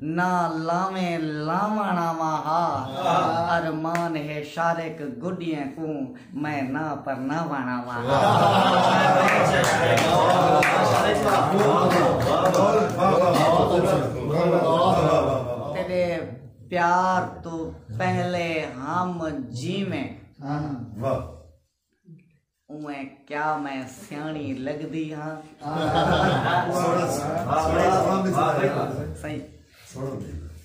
نہ لاویں لاوݨ آواں ہا ارمان ہے شارق گڈیاں کوں میں نہ پرناوݨ آواں تیڈے پیار توں پہلے ہم جیویں اوئیں کیا میں سیاݨی لڳدی ہاں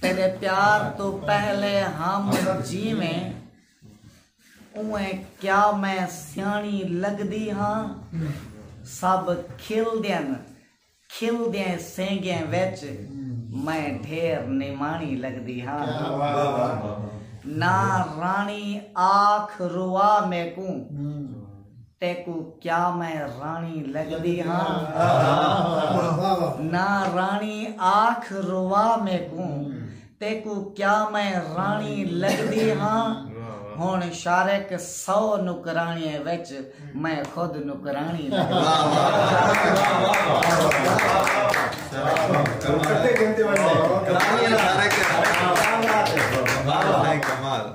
تیرے پیار تو پہلے ہم جیویں اوئیں کیا میں سیاݨی لڳدی ہاں سب کھل دین کھل دیاں سینگیاں وچ میں ڈھیر نماݨی لڳدی ہاں۔ نہ راݨی آکھ روا میکوں تیکوں کیا میں راݨی لڳدی ہاں۔ نہ راݨی آکھ روا میکوں تیکوں کیا میں راݨی لڳدی ہاں؟ ہݨ شارق سو نوکراݨیاں وچ میں خود نوکراݨی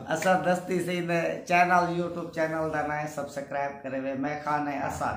اسد دستی سی دے چینل یوٹیوب چینل دا نائیں سبسکرائب کرے وے میں خان اسد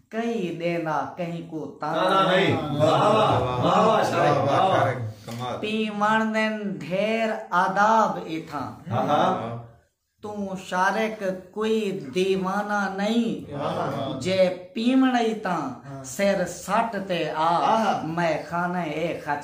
کہیں ݙینا کہیں کوں تانا نئیں۔ پیں وݨدن ڈھیر آداب ایتھاں۔ توں شارق کوئی دیوانہ نئیں۔ جے پیوݨ ای تاں سر سٹ تے آ میخانہ اے خچ۔